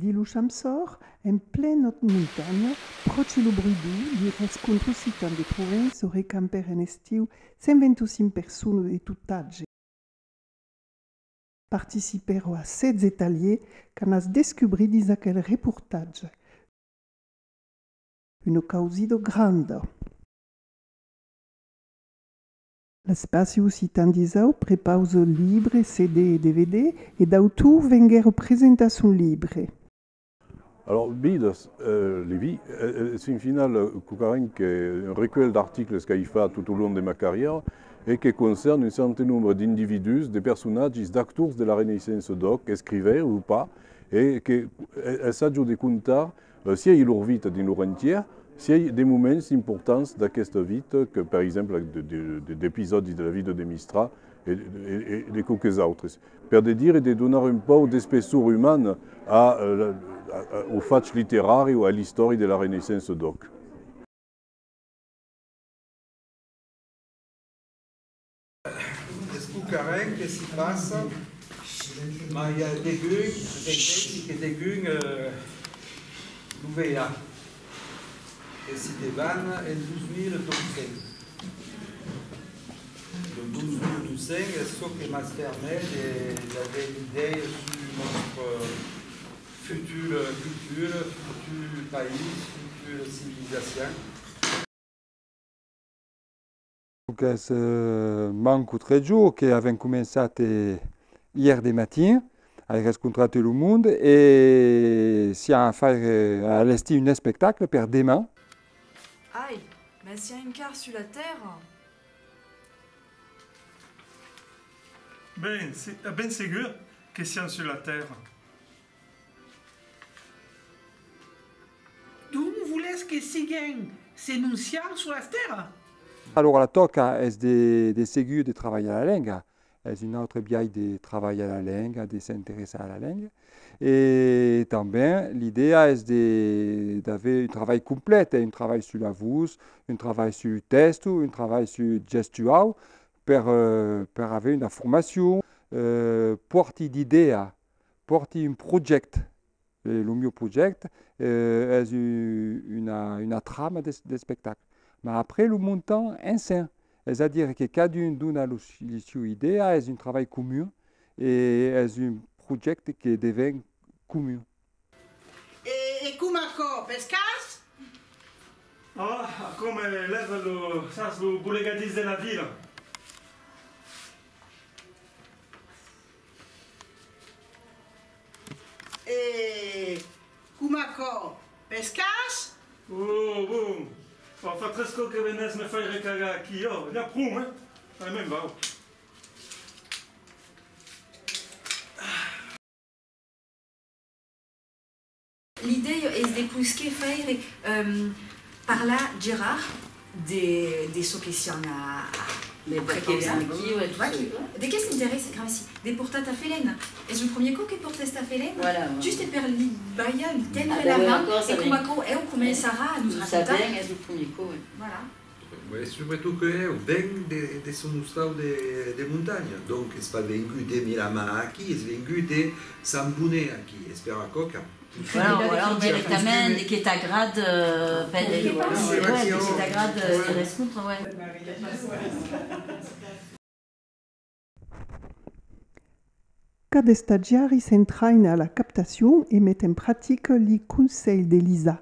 Diluch amb sòr, en plenòt montanha, pròche lo Bruidou, li rescontro citant de Provènç se recamper en estiu 125 persones de tot atge. Participèro a 16 talhiers qu'anatz descubrir dins aquel reportatge. Una causido granda. L'Espaci Occitan d'Isau prepausa libres, CD e DVD e d'autors venguèron presentar son libre. Alòrs Bidas, Levi, es fin final cocarent que un recuelh d'articles qu'ai fach tot au long de ma carrièra e que concèrne un cèrte nombre d'individús, de personatges, d'actors de la Reneissença d'òc, escrivèrs o pas, e que essàjo de contar Sièi lor vita dins lor entièr, sièi de moments importants d'aquesta vita, que per exemple d'episòdis de la vida de Mistral e de quauques autres, per de dire de donar un pauc d'espessor umana au fach literari o a l'istòria de la Renaissença d'òc. Escucarem que s'i passa, mas i a degun, s'entesi que degun lo veiá, que s'i debana en 2200. Lo 2200 es çò que mas permet de d'aver d'idèia sus nòstre futur cultura, futur país, futur civilizacion. Qu'es manco tres jorns que avèm començat ièr de matin ai rescontrat lo monde e siá a faire a allestir un espectacle per deman. Ai, mas siá encara sus la tèrra? Ben, ben segur que sián sus la tèrra. D'ont volètz que siguem se non siam sus las tèrras? Alora la tòca es de seguir de trabalhar la lenga, es un autre biais de trabalhar la lenga, de s'interessar a la lenga e tanben l'idèa es d'aver un trabalh complet, un trabalh sus la vos, un trabalh sus lo tèsto, un trabalh sus gestuau per aver una formacion, pòrti d'idèa Pòrti un projècte, e lo mieu projècte es una trama d'espectacle. Ma après lo montam ensenh, es a dire que cadun dona lo sieu idèa, es un trabalh comun e es un projècte que devèn comun. E com aquò? Pes cars? Ah, aquò me lèva lo, sas, lo bolegadís de la vila. E com aquò? Pes cars? Oh, bon! Fa fa tres còps que venètz me faire cagar aquí. Oh, n'i a pron, eh? Allez, me'n vau. L'idèia es de pousquer faire parlar Gerard de çò que sián a de qué s'interèsse Grassi de portar Tafelèna. Es lo premier còp que pòrtes Tafelèna? Just e per li balhar, li tendre la man e coma aquò eu començarà a nos racontar. E subretot que eu venc de son ostau de montanha, donc es pas vengut de Miramar aquí, es vengut de Sant Bonet aquí, es per aquò qu'a pus de costume. Cada estagiari s'entraina a la captacion e met en practica li conselhs d'Elisa.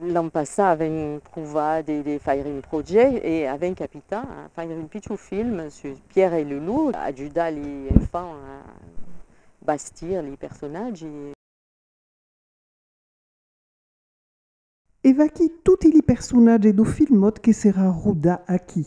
L'an passat avèm provat de faire un projèct e avèm capitat a faire un pichon film sus Pierre e Lulu, ajudar li enfants a bastir li personatgi. E vaquí toti li personatge do filmot que serà rodat aquí.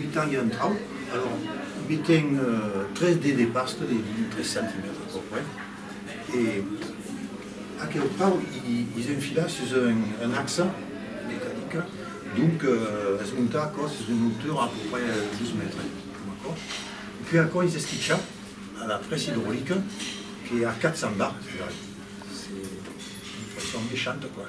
Mitan ja un trauc, alors mitem tres dets de pasta de 3 centimètres a peu près e aqueu trauc i's enfila sus un axa mecanica, donc es montar aquò sus una autura a peu près 2 mètres, puèi aquò i's esquicha a la pressa idrolica que a 400 bar, c'est une pression mechante quoi.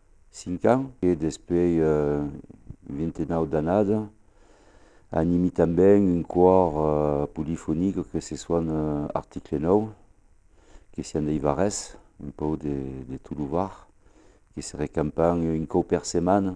5 ans e despuèi 29 d'annada animi tanben un còr polifonic que se soan Article 9 que sián dei varès, un pauc de tot lo Var que se recampan un còu per setmana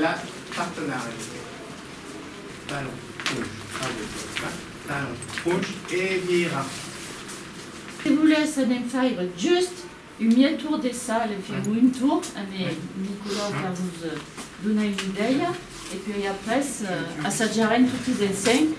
La partenariat talent ponch radio podcast talent ponch e vira. Se volèsse anem faire just un mièg tour de sal e fèm un tour amé Nicolau per nos donar una idèia e puèi après assajarem totis ensenh.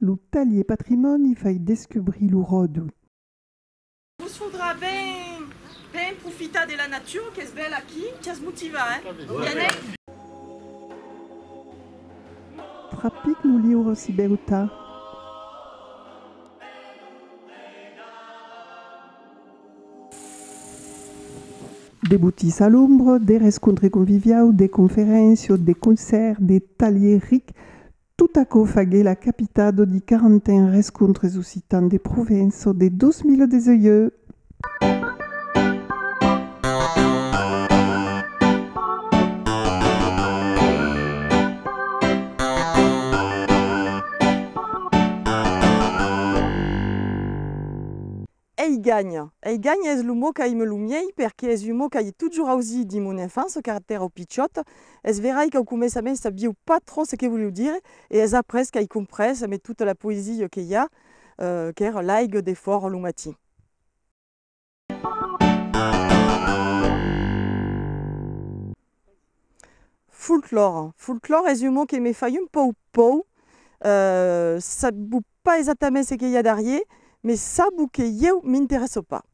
Lo talhier patrimòni fai descubrir lo ròdol. Vos faudrà ben profitar de la natura qu'es bèla aquí, ch'as motivar, eh? Trapic lo liure si bèu tard. Debutís a l'ombra, de rescontre conviviau, de conferéncia, de concèrt, de talhier ric, Tot aquò faguèt la capita do di 41 rescontres occitans de Provenço de 2018. Ei ganha. Ei ganha es lo mot qu'aime lo miei perque es un mot qu'aie totjorn ausit dins mon enfance car pèra pichòt. Es verai qu'au començament sabieu pas trop ce que volieu dire e es après qu'ai comprés amé tota la poesia que i a qu'èra l'aigue de fòra lo matin. Folklore. Folklore es un mot que me fai un pauc pòur. Sabètz-vos Pas exactament ce que i a darrier, mes sabo que ieu m'interèsso pas.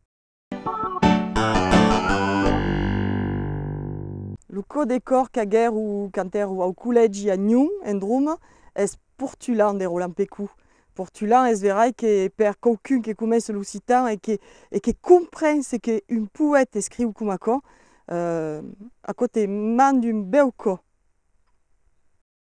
Lo cò de còr qu'agèro quand èro au collègi a Nyon, en Droma, es portulan de Roland Pecou. Portulan es verai que per quauqu'un que coneish l'occitan e que e que compren ce que un poète escriu coma aquò, aquò te mand un bèu cò.